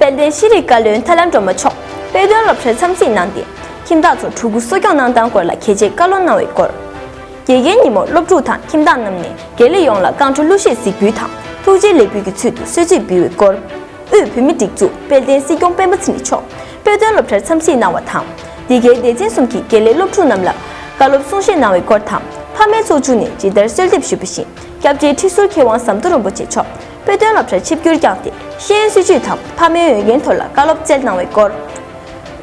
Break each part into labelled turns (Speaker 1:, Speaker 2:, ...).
Speaker 1: དཔལ་ལྡན་ཤེས་རིག་བཀའ་བློན་ཐར་ལམ་སྒྲོལ་མ་མཆོག་དཔེ་སྟོན་སློབ་གྲྭར་འཚམས་གཟིགས་གནང་སྟེ་ཁྱིམ་བདག་ཚོར་ཕྲུ་གུ་གསོ་སྐྱོང་གནང་སྟངས་སྐོར་ལ་གལ་ཆེའི་བཀའ་སློབ་གནང་བའི་སྐོར། དགེ་རྒན་ཉིན་མོར་སློབ་ཕྲུག་དང་ཁྱིམ་བདག་རྣམས་ནས་དགེ་ལས་ཡོངས་ལ་བསྐང་བཀྲོལ་གླུ་གཞས་གཟིགས་འབུལ་དང་ཐུགས་རྗེའི་ལེགས་འབུལ་གྱི་ཚུལ་དུ་གསོལ་ཚིགས་འབུལ་བའི་སྐོར། དབུས་བོད་མིའི་སྒྲིག་འཛུགས་དཔལ་ལྡན་སྲིད་སྐྱོང་སྤེན་པ་ཚེ་རིང་མཆོག་དཔེ་སྟོན་སློབ་གྲྭར་འཚམས་གཟིགས་གནང་བ་དང། འདི་གའི་སྡེ་ཚན་གསུམ་གྱི་དགེ་ལས་སློབ་ཕྲུག་རྣམས་ལ་བཀའ་སློབ་གསུང་བཤད་གནང་བའི་སྐོར་དང་ཕ་མའི་ཚོགས་ཆུང་ནས་ཇི་ལྟར་གསོལ་འདེབས་ཞུས་པ་བཞིན་སྐྱབས་རྗེ་ཁྲི་ཟུར་མཁས་དབང་ཟམ་གདོང་རིན་པོ་ཆེ་མཆོག་པོའི་དོན་སློབ་གྲྭར་ཆིབས་སྒྱུར་བསྐྱངས་ཏེ་ཤེས་ཡོན་སྲིད་བྱུས་དང་ཕ་མའི་འོས་འགན་ཐོག་ལ་བཀའ་སློབ་སྩལ་གནང་བའི་སྐོར།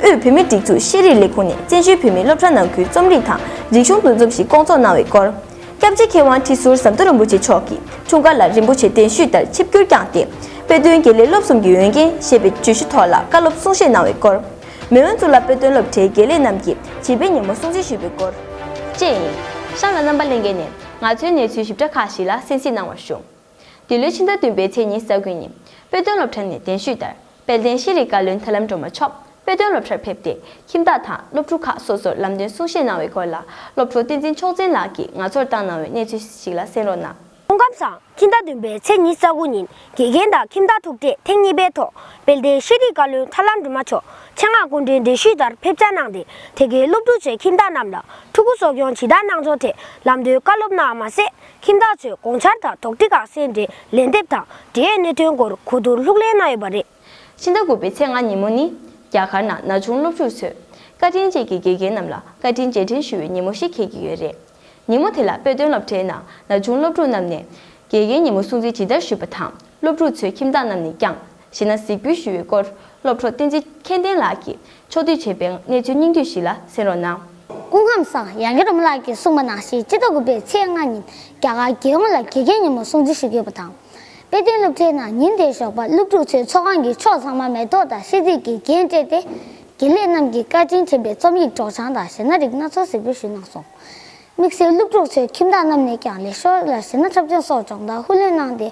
Speaker 1: དབུས་བོད་མིའི་སྒྲིག་འཛུགས་ཤེས་རིག་ལས་ཁུངས་ནས་བཙན་བྱོལ་བོད་མིའི་སློབ་གྲྭ་ནང་ཁུལ་རྩོམ་རིག་དང་རིག་གཞུང་འདུ་འཛོམས་ཤིག་སྐོང་ཚོགས་གནང་བའི་སྐོར། སྐྱབས་རྗེ་མཁས་དབང་ཁྲི་ཟུར་ཟམ་གདོང་རིན་པོ་ཆེ་མཆོག་གི་འཁྲུངས་སྐར་ལ་རིན་པོ་ཆེ་གདན་ཞུས་ལྟར་ཆིབས་སྒྱུར་བསྐྱངས་ཏེ། དཔེ་སྟོན་དགེ་ལས་སློབ་གསུམ་གྱི་འོས་འགན་ཞེས་པའི་བརྗོད་གཞི་ཐོག་ལ་བཀའ་སློབ་གསུང་བཤད་གནང་བའི་སྐོར། མེས་དབོན་གཙུག་ལག་དཔེ་སྟོན་སློབ་གྲྭའི་དགེ་ལས་རྣམས་ཀྱི་བྱིས་པའི་ཉིན་མོ་སྲུང་བརྩི་ཞུས་པའི་སྐོར། བཅས་ཡིན། གཤམ་ལ་རྣམ་པ་གླེང་མཁན་ནས་ང་ཚོའི་གནས་ཚུལ་ཞིབ་ཕྲ་ཁག་ཞིག་ལ་གསན་གཟིགས་གནང་བར་ཞུ། འདི་ལོའི་ཕྱི་ཟླ་བདུན་པའི་ཚེས་གཉིས་ས་དགོན་ཉིད་དཔེ་སྟོན་སློབ་གྲྭ་ནས་གདན་ཞུས་ལྟར་དཔལ་ལྡན་ཤེས་རིག་བཀའ་བློན་ཐར་ལམ་སྒྲོལ་མ་མཆོག་དཔེ་སྟོན་སློབ་གྲྭར་ཕེབས་ཏེ་ཁྱིམ་བདག་དང་སློབ་ཕྲུག་ཁག་སོ་སོར་ལམ་སྟོན་གསུང་བཤད་གནང་བའི་སྐོར་ལ་སློབ་ཕྲུག་བསྟན་འཛིན་མཆོག་འཛིན་ལགས་ཀྱིས་ང་ཚོར་བཏང་གནང་བའི་གནས་ཚུལ་ཞིག་ལ་གསན་རོགས་གནང། ཁོང་ཁམས་བཟང་ཕྱི་ཟླ་
Speaker 2: བདུན་པའི་ཚེས་གཉིས་ས་དགུ་ཉིན་དགེ་རྒན་དང་ཁྱིམ་བདག་ཐུག་འཕྲད་ཐེངས་གཉིས་པའི་ཐོག་དཔལ་ལྡན་ཤེས་རིག་བཀའ་བློན་ཐར་ལམ་སྒྲོལ་མ་མཆོག་ཆེད་མངགས་སྐུ་མགྲོན་གདན་ཞུས་ལྟར་ཕེབས་བཅར་གནང་སྟེ་དེ་གའི་སློབ་ཕྲུག་ཚོའི་ཁྱིམ་བདག་རྣམས་ལ་ཕྲུ་གུ་གསོ་སྐྱོང་ཇི་ལྟར་གནང་ཚོགས་ཐད་ལམ་སྟོན་བཀའ་སློབ་གནང་བ་མ་ཟད། ཁྱིམ་བདག་ཚོས་དགོངས་འཆར་དང་དོགས་འདྲི་ཁག་གསལ་འབྲི་ལན་འདེབས་དང་འབྲེལ་གནད་དོན་སྐོར་གོ་བསྡུར་ལྷུག་གླེང་གནང་ཡོད་པ་རེད། ཕྱི་ཟླ་དགུ་པའི་
Speaker 1: ཚེས་ལྔ་ཉིན་མོ་ནི། རྒྱ་གར་ནང་ན་ཆུང་སློབ་ཕྲུག་ཚོས། བཀའ་དྲིན་ཅན་གྱི་དགེ་རྒན་རྣམས་ལ་བཀའ་དྲིན་རྗེས་དྲན་ཞུ་བའི་ཉིན་མོ་ཞིག་འཁེལ་གྱི་ཡོད་རེད། ཉིན་མོ་དེ་ལ་དཔེ་སྟོན་སློབ་གྲྭའི་ནང་ན་ཆུང་སློབ་ཕྲུག་རྣམས་ནས། དགེ་རྒན་ཉིན་མོ་སྲུང་བརྩི་ཇི་ལྟར་ཞུས་པ་དང་སློབ་ཕྲུག་ཚོའི་ཁྱིམ་བདག་རྣམས་ནས་ཀྱང། ཞེ་ན་གཟིགས་འབུལ་ཞུ་བའི་སྐོར་སློབ་གྲོགས་བསྟན་འཛིན་མཁྱེན་ལྡན་ལགས་ཀྱིས་ཕྱོགས་བསྡུས་བྱས་པའི་གནས་ཚུལ་སྙིང་བསྡུས་ཞིག་ལ་གསན་རོགས་གནང། སྐུ་ཁམས་བཟང་
Speaker 3: ཡང་ཡུ་རོབ་མ་ལག་གིས་གསུངས་པ་ནང་བཞིན་སྤྱི་ཚོགས་དགུ་པའི་ཚེས་ལྔ་ཉིན་རྒྱ་གར་རྒྱལ་ཡོངས་ལ་དགེ་རྒན་ཉིན་མོ་སྲུང་བརྩི་ཞུ་རྒྱུ་ཡོད་པ་དང། དཔེ་སྟོན་སློབ་གྲྭའི་ནང་ཉིན་དེའི་ཞོགས་པ་སློབ་ཕྲུག་ཚོས་ཚོགས་ཁང་གི་ཕྱོགས་ཚང་མ་མེ་ཏོག་དང་ཤིས་ཚིག་གིས་རྒྱན་སྤྲས་ཏེ། དགེ་ལས་རྣམས་ཀྱིས་བཀའ་དྲིན་དྲན་པའི་རྩོམ་ཡིག་སྒྲོག་སྦྱང་དང་གཞས་སྣ་རིགས་སྣ་ཚོགས་གཟིགས་འབུལ་ཞུས་གནང་སོང། དམིགས་བསལ་སློབ་ཕྲུག་ཚོའི་ཁྱིམ་བདག་རྣམས་ནས་ཀྱང་ལས་ཤོར་ལ་གཞས་སྣ་འཁྲབ་སྦྱོང་སོགས་སྦྱོང་བརྡར་ཧུར་ལེན་གནང་སྟེ།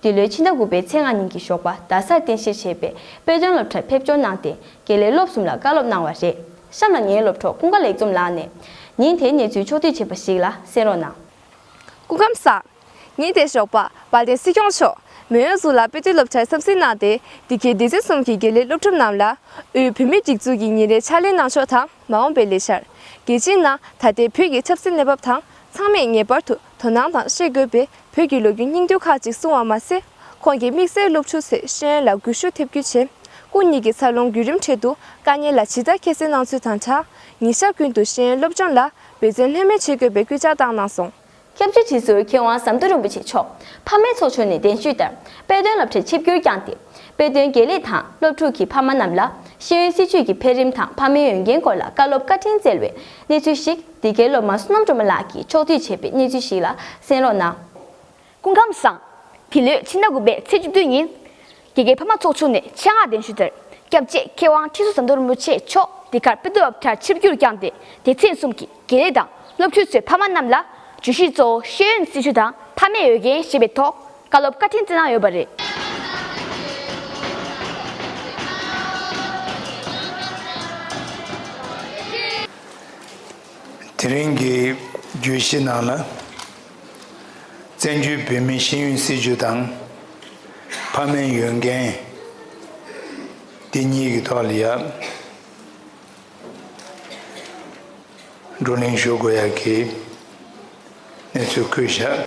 Speaker 1: འདི་ལོའི་ཕྱི་ཟླ་དགུ་པའི་ཚེས་ལྔ་ཉིན་གྱི་ཞོགས་པ་རྡ་སར་རྟེན་གཞིར་བྱས་པའི་དཔེ་སྟོན་སློབ་གྲྭར་ཕེབས་འབྱོར་གནང་སྟེ་དགེ་ལས་སློབ་གསུམ་ལ་བཀའ་སློབ་གནང་བ་རེད། གཤམ་ལ་ངའི་སློབ་གྲོགས་ཀུན་དགའ་ལེགས་འཛོམས་ལགས་ནས་ཉིན་དེའི་གནས་ཚུལ་ཕྱོགས་བསྡུས་བྱས་པ་ཞིག་ལ་གསན་རོགས་གནང། སྐུ་ཁམས་
Speaker 4: བཟང། ཉིན་དེའི་ཞོགས་པ་བ་དན་སྲིད་སྐྱོང་མཆོག་མོན་ཡོངས་གཟུགས་ལ་དཔེ་སྟོན་སློབ་གྲྭའི་འཚམས་གཟིགས་གནང་སྟེ་འདི་གའི་སྡེ་ཚན་གསུམ་གྱི་དགེ་ལས་སློབ་ཕྲུག་རྣམས་ལ་དབུས་བོད་མིའི་སྒྲིག་འཛུགས་ཀྱི་ཉིན་རེའི་ཕྱག་ལེན་གནང་ཕྱོགས་དང་མ་འོངས་པའི་ལས་འཆར། རྒྱལ་སྤྱིའི་ནང་ད་ལྟའི་བོད་ཀྱི་ཆབ་སྲིད་གནས་བབ་དང་ཚང་མས་ངེས་པར་དུ་དོ་སྣང་དང་ཤེས་དགོས་པའི་བོད་ཀྱི་ལོ་རྒྱུས་སྙིང་བསྡུས་ཁག་ཅིག་གསུང་བ་མ་ཟད། ཁོང་གི་དམིགས་བསལ་སློབ་ཕྲུག་ཚེ་ཧྲན་ལ་གུས་ཞུ་ཐེབས་རྒྱུ་བྱས། སྐུ་ཉིད་ཀྱི་འཚར་ལོངས་བརྒྱུད་རིམ་འཕྲལ་དུ་དཀའ་ཉེན་ལ་ཇི་ལྟར་ཁྱད་བསད་གནང་ཚུལ་དང་འདྲ། ཉིན་ཞག་ཀུན་ཏུ་ཤེས་ཡོན་སློབ་སྦྱོང་ལ་འབད་བརྩོན་ལྷོད་མེད་བྱེད་དགོས་པའི་སྐུལ་ལྕག་བཏང་གནང་སོང། སྐྱབས་བཅོལ་སྤྱི་
Speaker 1: ཟུར་མཁས་དབང་ཟམ་གདོང་རིན་པོ་ཆེ་མཆོག་ཕ་མའི་ཚོགས་ཆུང་ནས་གདན་ཞུས་ལྟར་དཔེ་སྟོན་བསླབ་གྲྭའི་ཆིབས་སྒྱུར་བསྐྱངས་ཏེ། དཔེ་སྟོན་དགེ་ལས་དང་སློབ་ཕྲུག་གི་ཕ་མ་རྣམས་ལ་ཤེས་ཡོན་སྲིད་བྱུས་ཀྱི་འཕེལ་རིམ་དང་ཕ་མའི་འོས་འགན་སྐོར་ལ་བཀའ་སློབ་བཀའ་དྲིན་བསྩལ་བའི་གནས་ཚུལ་ཞིག་འདི་གའི་སློབ་མ་བསོད་ནམས་སྒྲོལ་མ་ལགས་ཀྱིས་ཕྱོགས་བསྡུས་བྱས་པའི་གནས་ཚུལ་ཞིག་ལ་གསན་རོགས་གནང། སྐུ་ཁམས་བཟང།
Speaker 5: འདི་ལོའི་ཕྱི་ཟླ་དགུ་པའི་ཚེས་བཅུ་བདུན་ཉིན། རྒྱ་གར་ཕ་མ་ཚོགས་ཆུང་ནས་ཆེད་མངགས་གདན་ཞུ་དེར་སྐྱབས་རྗེ་མཁས་དབང་ཁྲི་ཟུར་ཟམ་གདོང་རིན་པོ་ཆེ་མཆོག་འདི་གར་དཔེ་བསྡུ་བབ་ཁྱར་ཆིབས་བསྒྱུར་བསྐྱངས་ཏེ་སྡེ་ཚན་གསུམ་གྱི་དགེ་ལས་དང་སློབ་ཕྲུག་ཚོའི་ཕ་མ་རྣམས་ལ་བརྗོད་གཞི་གཙོ་བོ་ཤེས་ཡོན་སྲི་ཞུ་དང་ཕ་མའི་འོས་འགན་ཞེས་པའི་ཐོག་བཀའ་སློབ་བཀའ་དྲིན་བསྩལ་གནང་ཡོད་པ་རེད།
Speaker 6: དེ་རིང་གི་བརྗོད་གཞི་ནང་ལ། བཙན་བྱོལ་བོད་མིའི་ཤེས་ཡོན་སྲིད་བྱུས་དང་ཕ་མའི་ཡོན་ཏན། འདི་གཉིས་ཀྱི་ཐོག་ལ་ཡང་བགྲོ་གླེང་ཞུ་དགོས་ཡག་གི་གནས་ཚུལ་བཀོད་བཞག།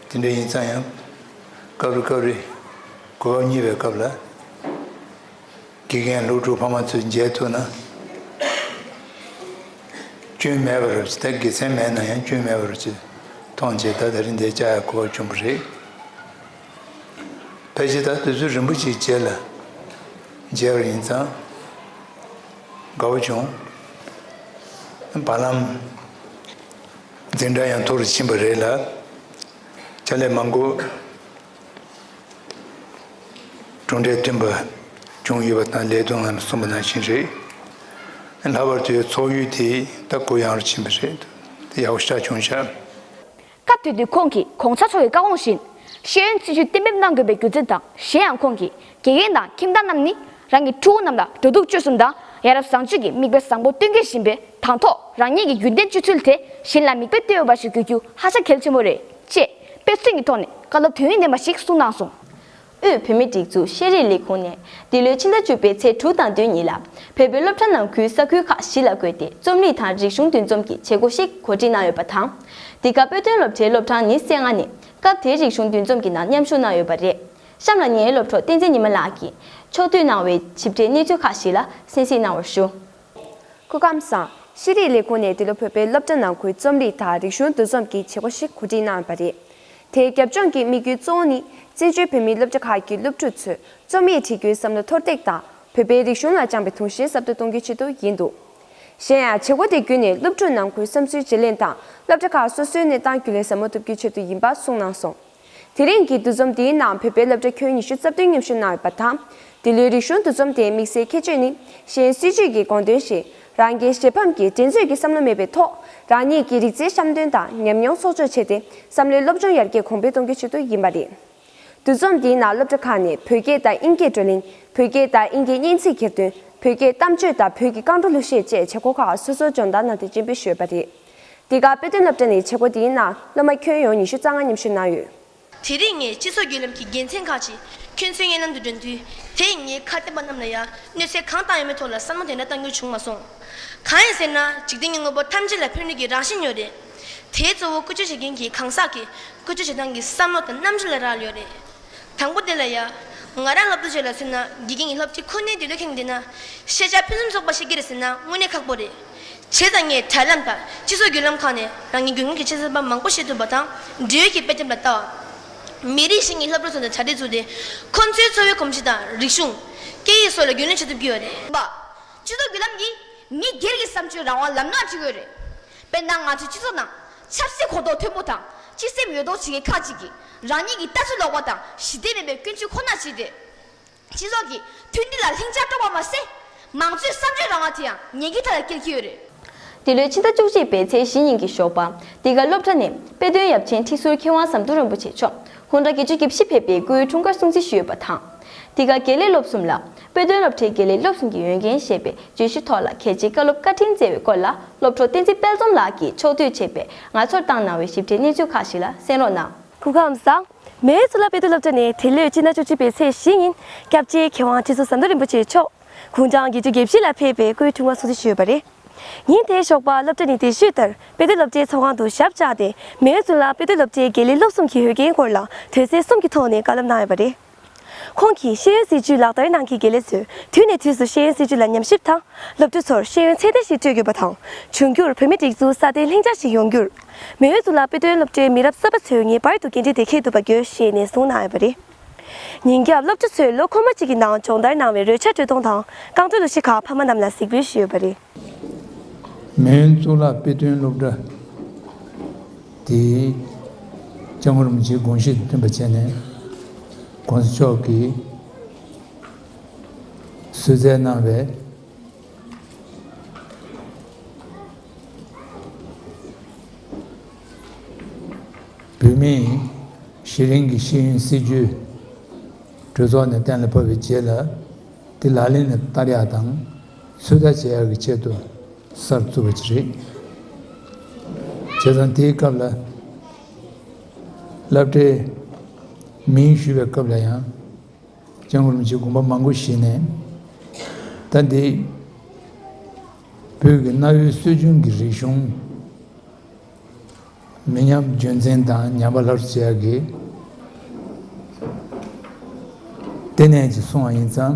Speaker 6: དེ་འདྲ་ཡིན་ཙང་ཡང། སྐབས་རེ་སྐབས་རེ། གོ་བབ་རྙེད་པའི་སྐབས་ལ། དགེ་རྒན་སློབ་ཕྲུག་ཕ་མ་ཚོས་མཇལ་ཐུབ་ན། སྐྱོན་མེད་པར་ད་དགེ་མཚན་མེད་ན་ཡང་སྐྱོན་མེད་པར་ཅིག་མཐོང་བྱས་ད་ལྟ་རིན་དེ་བཅའ་ཡག་གོ་བ་བྱུང་བ་རེད། ཕལ་ཆེར་ད་དུས་ཚོད་རིང་པོ་ཅིག་རྗེས་ལ་མཇལ་བར་ཡིན་ཙང། དགའ་བོ་བྱུང། བར་ལམ། འཛིན་གྲྭ་ཡང་མཐོ་རུ་ཕྱིན་པ་རེད་ལ། ཕྱག་ལས་མང་པོ་གྲུབ་འབྲས་ཐོན་པ་བྱུང་ཡོད་པ་དང་ལས་དོན་ལམ་གསུམ་པ་ནང་བཞིན་རེད། ལྷག་པར་དུ་འཚོགས་ཡུལ་དེ་དག་གུ་ཡངས་རུ་ཕྱིན་པ་རེད་འདུག་ཡག་པོ་ཤ་ཆུང་ཤ། སྐབས་དེ་
Speaker 5: དུས་ཁོང་གིས་གོང་ཆ་ཚོགས་ཀྱི་བཀའ་དགོངས་བཞིན། ཤེས་ཡོན་སྲིད་བྱུས་གཏན་འབེབས་གནང་དགོས་པའི་རྒྱུ་མཚན་དང་གཞན་ཡང་ཁོང་གིས་དགེ་རྒན་དང་ཁྱིམ་བདག་རྣམས་ནི་རང་གི་ཕྲུ་གུ་རྣམས་ལ་འགྲོ་འདུག་སྤྱོད་གསུམ་དང་ཡ་རབས་བཟང་སྤྱོད་ཀྱི་མིག་དཔེ་བཟང་པོ་སྟོན་དགེ་བཞིན་པའི་དང་ཐོག་རང་ཉིད་ཀྱི་རྒྱུན་ལྡན་སྤྱོད་ཚུལ་དེ་གཞན་ལ་མིག་དཔེ་བསྟོད་འོས་པ་ཞིག་དགོས་རྒྱུ་ཧ་ཅང་གལ་ཆེན་པོ་རེད་ཅེས་དཔེ་མཚོན་གྱི་ཐོག་ནས་བཀའ་སློབ་དོན་སྙིང་ལྡན་པ་ཞིག་གསུངས་གནང་སོང། དབུས་བོད་མིའི་
Speaker 1: སྒྲིག་འཛུགས་ཤེས་རིག་ལས་ཁུངས་ནས་འདི་ལོའི་ཕྱི་ཟླ་བཅུ་པའི་ཚེས་དྲུག་དང་བདུན་གཉིས་ལ་བལ་བོའི་སློབ་གྲྭ་ནང་ཁུལ་ས་ཁུལ་ཁག་བཞི་ལ་བགོས་ཏེ་རྩོམ་རིག་དང་རིག་གཞུང་འདུ་འཛོམས་ཀྱི་བྱེད་སྒོ་ཞིག་གོ་སྒྲིག་གནང་ཡོད་པ་དང། འདི་ག་དཔེ་སྟོན་སློབ་གྲྭའི་སློབ་གྲངས་ནི་སེ་ལྔ་ནས་སྐབས་དེའི་རིག་གཞུང་འདུ་འཛོམས་ཀྱི་ནང་མཉམ་ཞུགས་གནང་ཡོད་པ་རེད། གཤམ་ལ་ངའི་སློབ་གྲོགས་བསྟན་འཛིན་ཉི་མ་ལགས་ཀྱིས་ཕྱོགས་བསྡུས་གནང་བའི་ཞིབ་ཕྲའི་གནས་ཚུལ་ཁག་ཞིག་ལ་གསན་གཟིགས་གནང་བར་ཞུ། སྐུ་ཁམས་
Speaker 4: བཟང། ཤེས་རིག་ལས་ཁུངས་ནས་འདི་ལོ་བོད་པའི་སློབ་གྲྭ་ནང་ཁུལ་རྩོམ་རིག་དང་རིག་གཞུང་འདུ་འཛོམས་ཀྱི་བྱེད་སྒོ་ཞིག་གོ་སྒྲིག་གནང་བ་རེད། དེའི་རྒྱབ་ལྗོངས་ཀྱི་དམིགས་ཡུལ་གཙོ་བོ་ནི་བཙན་བྱོལ་བོད་མིའི་སློབ་གྲྭ་ཁག་གི་སློབ་ཕྲུག་ཚོས་རྩོམ་ཡིག་བྲི་རྒྱུའི་བསམ་བློ་མཐོར་འདེགས་དང་བོད་པའི་རིག་གཞུང་ལ་བཅངས་པའི་དུངས་ཞེན་ཟབ་ཏུ་གཏོང་རྒྱུའི་ཆེད་དུ་ཡིན་འདུག་གཞན་ཡང་བྱེད་སྒོ་དེ་བརྒྱུད་ནས་སློབ་ཕྲུག་ནང་ཁུལ་བསམ་ཚུལ་བརྗེ་ལེན་དང་སློབ་གྲྭ་ཁག་སོ་སོའི་གནས་སྟངས་རྒྱུས་ལོན་ཟབ་མོ་ཐུབ་རྒྱུའི་ཆེད་དུ་ཡིན་པ་གསུངས་གནང་སོང། དེ་རིང་གི་འདུ་འཛོམས་དེའི་ནང་བོད་པའི་སློབ་གྲྭ་ཁྱོན་ཉི་ཤུ་རྩ་བདུན་མཉམ་ཞུགས་གནང་ཡོད་པ་དང། འདི་ལོའི་རིག་གཞུང་འདུ་འཛོམས་དེའི་དམིགས་བསལ་ཁྱད་ཆོས་ནི་གཞན་སྲིད་ཇུས་ཀྱི་དགོངས་དོན་བཞིན་རང་རྒྱལ་གཞན་ཕམ་གྱི་འགྲན་རྩོད་ཀྱི་བསམ་བློ་མེད་པའི་ཐོག་རང་ཉིད་ཀྱི་རིག་རྩལ་བཤམས་སྟོན་དང་ཉམས་མྱོང་གསོག་འཇོག་བྱས་ཏེ་བསམ་བློའི་སློབ་སྦྱོང་ཡར་རྒྱས་གོང་འཕེལ་གཏོང་རྒྱུའི་ཆེད་དུ་ཡིན་པ་རེད། འདུ་འཛོམས་དེའི་ནང་སློབ་གྲྭ་ཁག་ནས་བོད་སྐད་དང་དབྱིན་སྐད་བགྲོ་གླེང་བོད་སྐད་དང་དབྱིན་སྐད་སྙན་ཚིག་གྱེར་འདོན་བོད་སྐད་གཏམ་བརྗོད་དང་བོད་ཀྱི་རྐང་བྲོ་གླུ་གཞས་བཅས་བྱེད་སྒོ་ཁག་སོ་སོར་སྦྱོང་བརྡར་གནང་སྟེ་སྤྱི་འབུལ་ཞུས་ཡོད་པ་རེད། འདི་ག་དཔེ་སྟོན་སློབ་གྲྭ་ནི་བྱེད་སྒོ་འདི་ཡིན་ན་སློབ་མ་ཁྱོན་ཡོངས་ཉི་ཤུ་རྩ་ལྔ་མཉམ་ཞུགས་གནང་ཡོད། དེ་རིང་ངས་སྤྱི་
Speaker 7: ཚོགས་བརྒྱུད་ལམ་གྱི་དགེ་མཚན་ཁག་ཅིག་ཁྱོད་ཚོའི་སྙན་ལམ་དུ་འདོན་དུས་དེས་ངའི་ཁ་གཏད་པ་རྣམས་ལ་ཡང་གནོད་འཚེ་གང་བཏང་ཡོད་མེད་ཐོག་ལ་བསམ་བློ་དེ་འདྲ་བཏང་རྒྱུ་བྱུང་མ་སོང། གང་ཡིན་ཟེར་ན་འཇིག་རྟེན་གྱི་དངོས་པོ་ཐམས་ཅད་ལ་ཕན་ནུས་ཀྱི་རང་བཞིན་ཡོད་རེད། དེའི་གཙོ་བོ་བཀོལ་སྤྱོད་བྱེད་མཁན་གྱི་གང་ཟག་གིས་བཀོལ་སྤྱོད་བྱེད་སྟངས་ཀྱི་བསམ་བློ་དང་རྣམ་འགྱུར་ལ་རག་ལས་ཡོད་རེད། དང་པོ་དེ་ལ་ཡ། ང་རང་ལབ་ཏུ་བྱོས་ལ་ཟེར་ན་དགེ་རྒན་གྱི་སློབ་སྤྱི་ཁོ་ནའི་དུས་ལ་ཁེངས་བསྡད་ན། ཤེས་བྱ་ཕུན་སུམ་ཚོགས་པ་ཞིག་གི་རེད་ཟེར་ན་དངོས་གནས་ཁག་པོ་རེད། བྱས་ཙང་ངས་དྲ་ལམ་དང་སྤྱི་ཚོགས་བརྒྱུད་ལམ་ཁག་ནས་རང་ཉིད་དགོས་ངེས་ཀྱི་ཆེད་གསར་པ་མང་པོ་བཤད་ཐུབ་པ་དང་འབྲེལ་ཡོད་ཀྱི་དཔེ་དེབ་ལ་ལྟ་བ། མི་རིགས་ཤིག་གི་ལྷ་བུར་ཚུད་ནས་དྲ་སྦྲེལ་བཙུགས་ཏེ། ཁོ་ཚོའི་འཚོ་བའི་གོམས་གཤིས་དང་རིག་གཞུང། སྐད་ཡིག་སོགས་ལ་རྒྱུས་ལོན་བྱེད་ཐུབ་ཀྱི་ཡོད་རེད། པ། སྤྱི་ཚོགས་བརྒྱུད་ལམ་གྱིས་མི་སྒེར་གྱི་བསམ་སྤྱོད་རང་དབང་ལམ་ལྷོངས་བྱེད་དགོས་རེད། དཔེར་ན་ང་ཚོའི་སྤྱི་ཚོགས་ནང་ཆབ་སྲིད་གོ་རྟོགས་མཐོན་པོ་དང་སྤྱི་སེམས་ཡོད་མདོག་བྱེད་མཁན་ཁག་ཅིག་གིས་རང་ཉིད་ཀྱི་ལྟ་ཚུལ་ལོག་པ་དང་ཞི་བདེ་མེད་པའི་ཀུན་སྤྱོད་ཁོ་ན་བྱས་ཏེ། སྤྱི་ཚོགས་ཀྱི་མཐུན་སྒྲིལ་ལ་ལྷིང་འཇགས་སྤྲོ་བ་མ་ཟད། མང་གཙོའི་བསམ་བརྗོད་རང་དབང་དེ་ཡང་ཉེན་ཁའི་མཐའ་ལ་སྐྱེལ་གྱི་ཡོད་རེད། འདི་ལོའི་ཕྱི་ཟླ་
Speaker 1: བཅུ་གཅིག་པའི་ཚེས་བཞི་ཉིན་གྱི་ཞོགས་པ། འདི་ག་སློབ་གྲྭ་ནས་དཔེ་སྟོན་ཡབ་ཆེན་ཁྲི་ཟུར་མཁས་དབང་ཟམ་གདོང་རིན་པོ་ཆེ་མཆོག་ཧུན་རྡ་གི་ཆུ་སྐྱེས་བཞི་ཕེབས་པའི་སྐུའི་འཁྲུངས་སྐར་སྲུང་བརྩི་ཞུས་ཡོད་པ་དང། འདི་ག་དགེ་ལས་སློབ་གསུམ་ལ་དཔེ་སྟོན་སློབ་གྲྭའི་དགེ་ལས་སློབ་གསུམ་གྱི་ཡོན་རྒན་ཞེས་པའི་བརྗོད་གཞི་ཐོག་ལ་གལ་ཆེའི་བཀའ་སློབ་བཀའ་དྲིན་བསྩལ་བའི་སྐོར་ལ་སློབ་གྲོགས་བསྟན་འཛིན་དཔལ་འཛོམས་ལགས་ཀྱིས་ཕྱོགས་བསྡུས་བྱས་པའི་ང་ཚོར་བཏང་གནང་བའི་ཞིབ་ཕྲའི་གནས་ཚུལ་ཁག་ཞིག་ལ་གསན་རོགས་གནང། གུར་ཁང་ཟག་མེད་ཚོ་ལ་དཔེ་སྟོན་སློབ་གྲྭ་ནས་དེ་ལོའི་སྤྱི་ཟླ་བཅུ་གཅིག་པའི་ཚེས་བཞི་ཉིན་སྐྱབས་རྗེ་མཁས་དབང་ཁྲི་ཟུར་ཟམ་གདོང་རིན་པོ་ཆེ་མཆོག་དགུང་གྲངས་བརྒྱད་ཅུ་བརྒྱད་བཞི་ལ་ཕེབས་པའི་སྐུའི་འཁྲུངས་བ་སྲུང་བརྩི་ཞུས་པ་རེད། ཉིན་དེའི་ཞོགས་པ་སློབ་གྲྭ་ནས་དེ་བཞུགས་ལྟར་དཔེ་སྟོན་སློབ་གྲྭའི་ཚོགས་ཁང་དུ་ཞབས་བཅགས་ཏེ་མེའོ་ཙུན་ལགས་དཔེ་སྟོན་སློབ་གྲྭའི་དགེ་ལས་སློབ་གསུམ་གྱི་ཡོན་རྒན་སྐོར་ལ་དོན་ཚན་གསུམ་གྱི་ཐོག་ནས་བཀའ་སློབ་གནང་ཡོད་པ་རེད། ཁོང་གིས་ཤེས་ཡོན་སྲིད་བྱུས་ལག་བསྟར་གནང་མཁན་དགེ་ལས་ཚོས་དུས་ནས་དུས་སུ་ཤེས་ཡོན་སྲིད་བྱུས་ལ་ཉམས་ཞིབ་དང། སློབ་ཕྲུག་ཚོར་ཤེས་ཡོན་ཚད་ལྡན་ཞིག་སྤྲོད་དགོས་པ་དང། འབྱུང་འགྱུར་བོད་མིའི་སྒྲིག་འཛུགས་སྲ་བརྟན་ལྷིང་འཇགས་ཤིག་ཡོང་རྒྱུར། མེ་ཡོས་གཙུག་ལག་དཔེ་སྟོན་སློབ་གྲྭའི་མི་རབས་གསར་པ་ཚོས་ངེས་པར་དུ་འགན་འཁྲི་དེ་འཁྱེར་ཐུབ་པ་དགོས་ཞེས་ནན་གསུངས་གནང་ཡོད་པ་རེད། ཉིན་རྒྱབ་སློབ་ཕྲུག་ཚོས་ལོ་འཁོར་མོ་གཅིག་གི་ནང་སྦྱོང་བརྡར་གནང་བའི་རོལ་ཆ་དྲོད་གཏོང་དང་རྐང་བྲོ་གླུ་གཞས་ཁག་ཕ་མ་རྣམས་ལ་གཟིགས་འབུལ་ཞུས་ཡོད་པ་རེད། མོན་གཙུག་
Speaker 6: ལག་དཔེ་སྟོན་སློབ་གྲྭ་དེའི་ལྕགས་མོ་རིན་པོ་ཆེའི་དགོངས་གཞི་མཐུན་པ་བྱས་ནས་དགོངས་གཟིགས་མཆོག་གིས་གསོལ་བསྩལ་གནང་བའི་བུད་མེད་གཞི་རིང་གི་ཤེས་ཡོན་སྲིད་བྱུས་གྲོས་ཚོགས་ནས་གཏན་ལ་ཕབ་པའི་རྗེས་ལ་དེ་ལག་ལེན་ལ་བསྟར་ཡག་དང། ཚོད་ལྟ་བྱེད་ཡག་གི་ཆེད་དུ་གསར་བཙུགས་པ་ཅིག་རེད། བྱས་ཙང་དེའི་སྐབས་ལ་བསླབ་གྲྭའི་མིང་ཞུས་པའི་སྐབས་ལ་ཡང་ལྕང་རོམ་གྱི་དགོན་པ་མང་པོ་ཞིག་ནས་ད་འདི་བོད་ཀྱི་གནའ་བོའི་སྲོལ་རྒྱུན་གྱི་རིག་གཞུང་མི་ཉམས་རྒྱུན་འཛིན་དང་ཉམས་པ་ལྷག་བྱེད་ཡག་གི་ལྟེ་གནས་ཀྱིས་གསུངས་བ་ཡིན་ཙང།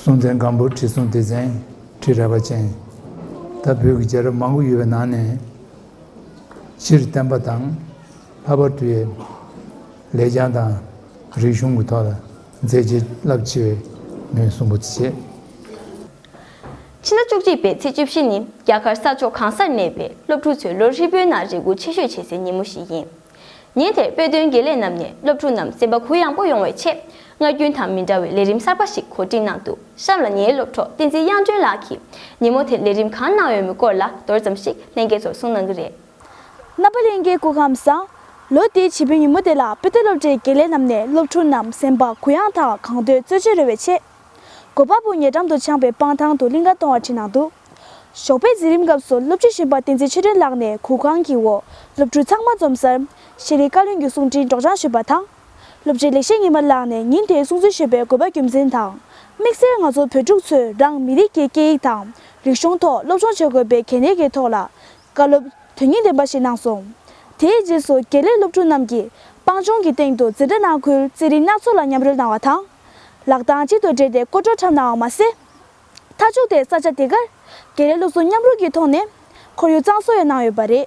Speaker 6: སྲོང་བཙན་སྒམ་པོར་ཁྲི་སྲོང་ལྡེ་བཙན་ཁྲི་རལ་པ་ཅན་དང་བོད་ཀྱི་རྒྱལ་རབས་མང་པོ་ཡོད་པའི་ནང་ནས་སྤྱིར་བསྟན་པ་དང་ལྷག་པར་དུ་ཡེ་ལས་རྒྱང་དང་རིག་གཞུང་གི་ཐོག་ལ་མཛད་རྗེས་རླབས་ཆེ་བའི་མི་གསུམ་པོ་དེ་བྱེད། ཕྱི་
Speaker 1: ཟླ་བཅུ་གཅིག་པའི་ཚེས་བཅུ་བཞི་ནི་རྒྱ་གར་ས་ཕྱོགས་གང་སར་གནས་པའི་སློབ་ཕྲུག་ཚོའི་ལོ་ཧྲིལ་པོའི་ནང་རེ་སྒུག་ཆེ་ཤོས་བྱེད་སའི་ཉིན་མོ་ཞིག་ཡིན། ཉིན་དེར་དཔེ་སྟོན་དགེ་ལས་རྣམས་ནས་སློབ་ཕྲུག་རྣམས་སེམས་པ་གུ་ཡངས་པོ་ཡོང་བའི་ཆེད། སྔར་རྒྱུན་དང་མི་འདྲ་བའི་ལས་རིམ་གསར་པ་ཞིག་གོ་སྒྲིག་གནང་འདུག་གཤམ་ལ་ངའི་སློབ་གྲོགས་བསྟན་འཛིན་དབྱངས་སྒྲོན་ལགས་ཀྱིས་ཉིན་མོ་དེར་ལས་རིམ་གང་གནང་ཡོད་མེད་སྐོར་ལ་མདོར་ཙམ་ཞིག་ལྷན་རྒྱས་ཚོར་གསུངས་གནང་གི་རེད། རྣམ་པ་ལྷན་རྒྱས་
Speaker 8: སྐུ་ཁམས་བཟང། ལོ་དེའི་བྱེད་པོའི་ཉིན་མོ་དེ་ལ་དཔེ་སྟོན་སློབ་གྲྭའི་དགེ་ལས་རྣམས་ནས་སློབ་ཕྲུག་རྣམས་སེམས་པ་གུ་ཡངས་དང་གང་འདོད་རྩོལ་བྱེད་རོལ་བའི་ཆེད། སྒོ་པ་པོ་ཉེ་འགྲམ་དུ་འཆང་པའི་སྤང་ཐང་དུ་གླིང་ག་གཏོང་བ་བྲིས་གནང་འདུག། ཞོགས་པའི་འཛིན་རིམ་སྐབས་སུ་སློབ་ཕྲུག་གཞོན་པ་བསྟན་འཛིན་ཆོས་སྒྲོན་ལགས་ནས་གུར་ཁང་གི་འོག་སློབ་ཕྲུག་ཚང་མ་འཛོམས་སར། ཤེས་རིག་བཀའ་བློན་གྱི་གསུང་འཕྲིན་སྒྲོགས་སྦྱང་ཞུས་པ་དང། སློབ་སྤྱི་ལེགས་བཤད་ཉི་མ་ལགས་ནས་ཉིན་དེའི་གསུང་ཚུལ་ཞུས་པའི་དགོས་པ་རྒྱུ་མཚན་དང། དམིགས་བསལ་ང་ཚོ་བོད་ཕྲུག་ཚོས་རང་མི་རིགས་ཀྱི་སྐད་ཡིག་དང་རིག་གཞུང་ཐོག་སློབ་སྦྱོང་བྱེད་དགོས་པའི་གལ་གནད་ཀྱི་ཐོག་ལ། བཀའ་སློབ་དོན་སྙིང་ལྡན་པ་ཞིག་གནང་སོང། དེའི་རྗེས་སུ་དགེ་ལས་སློབ་ཕྲུག་རྣམས་ཀྱིས་སྤང་ལྗོངས་ཀྱི་སྟེང་དུ་འཛིན་གྲྭ་ནང་ཁུལ་རྩེད་རིགས་སྣ་ཚོགས་ལ་མཉམ་རོལ་གནང་བ་དང། ལག་གདང་གཅིག་ཏུ་སྦྲེལ་ཏེ་སྐོར་བྲོ་འཁྲབ་གནང་བ་མ་ཟད། མཐའ་ཕྱོགས་དེ་ས་ཆ་དེ་གར་དགེ་ལས་སློབ་གསོ་མཉམ་རུབ་ཀྱི་ཐོག་ནས་ཁོར་ཡུག་གཙང་བཟོ་ཡང་གནང་ཡོད་པ་རེད།